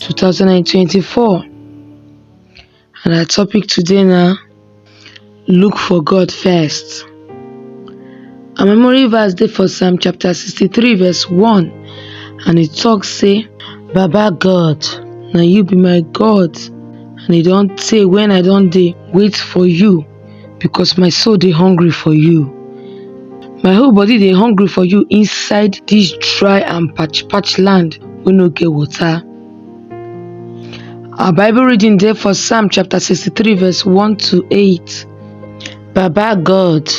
2024 and our topic today na look for God first. Our memory verse dey for Psalm chapter 63 verse 1 and e talk say Baba God na you be my God and e don tey when I don dey wait for you because my soul dey hungry for you. My whole body dey hungry for you inside this dry and patch patch land wey no get water. Our Bible reading dey for Psalm chapter 63 verse 1 to 8. Baba God,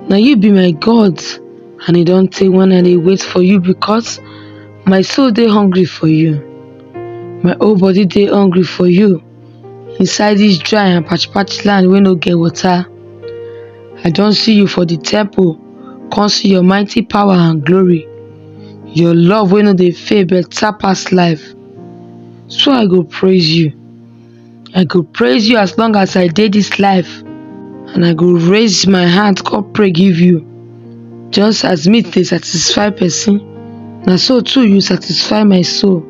na you be my God and e don tey when I dey wait for you because my soul dey hungry for you. My whole body dey hungry for you. inside dis dry and parched parched land wey no get water i don see you for di temple come see your mighty power and glory your love wey no dey fail better pass life so i go praise you i go praise you as long as i dey dis life and i go raise my hand come pray give you Just as meat dey satisfy person, na so too you satisfy my soul.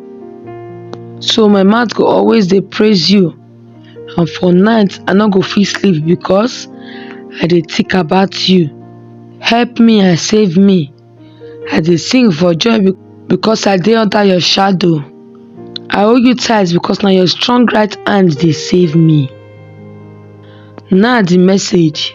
So my mouth go always dey praise you, and for night I no go fit sleep because I dey think about you. Help me and save me, I dey sing for joy be- because I dey under your shadow. I hold you tight because na your strong right hand dey save me. Now the message.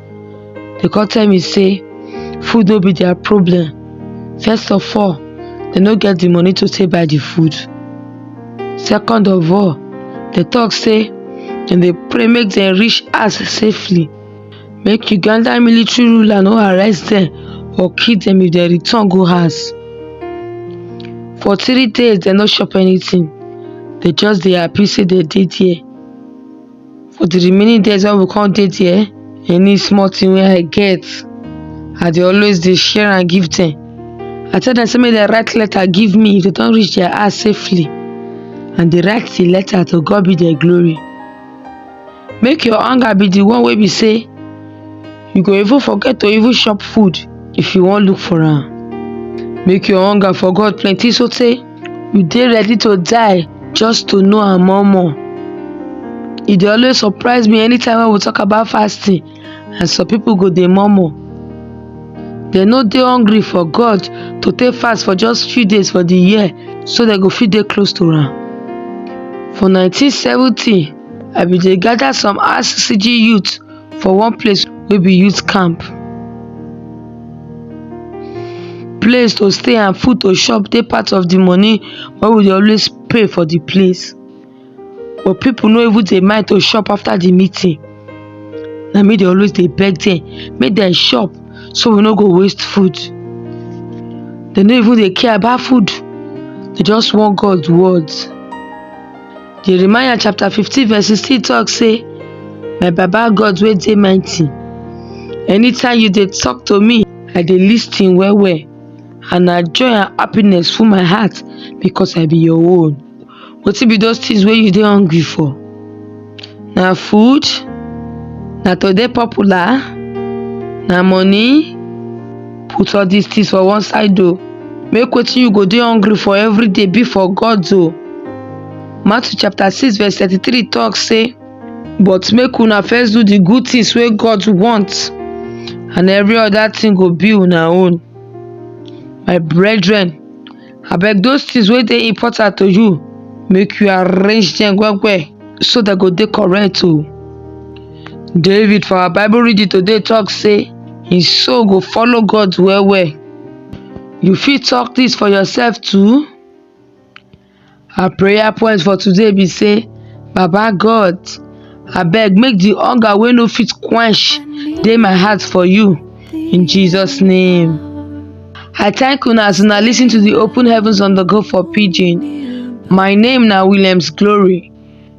dey come tell me say food no be their problem first of all they no get the money to take buy the food second of all they talk say dem dey pray make dem reach house safely make uganda military ruler no arrest dem or kill dem if dem return go house for three days dem no chop anything they just dey happy say dem dey there for the remaining days wey we come dey there any small thing wey i get i dey always dey share am give them i tell them say make dem write letter give me if they don reach their house safely and they write the letter to god be the glory make your hunger be the one wey be say you go even forget to even chop food if you wan look for am make your hunger for god plenty so tey you dey ready to die just to know am more more e dey always surprise me anytime wey we talk about fasting and some people go dey murmur dem no dey hungry for God to take fast for just few days for the year so dem go fit dey close to am for 1970 I bin dey gather some RCCG youth for one place wey be youth camp place to stay and food to chop dey part of the money wey we dey always pay for the place but people no even dey mind to chop after the meeting na me dey always dey beg them make dem chop so we no go waste food they no even dey care about food they just want God words Jeremiah chapter 15 verse 16 talk say, My Baba God wey dey mighty, anytime you dey talk to me, I dey listen well well and na joy and happiness full my heart because I be your own. Wetin be those things wey you dey hungry for? Na food? Na to dey popular? Na money? Put all these things for one side o. Make wetin you go dey hungry for every day be for gods o. Matthew chapter 6 verse 33 talk say, But make una first do the good things wey God want, and every other thing go be una own. My brethren, abeg those things wey dey important to you make you arrange them well well so they go dey correct o david for our bible reading today talk say him soul go follow god well well you fit talk this for yourself too Our prayer point for today be say, Baba God, abeg make the hunger wey no fit quench dey my heart for you in Jesus name. I thank una as una listen to the Open Heavens on the Go for Pidgin. My name na Williams Glory.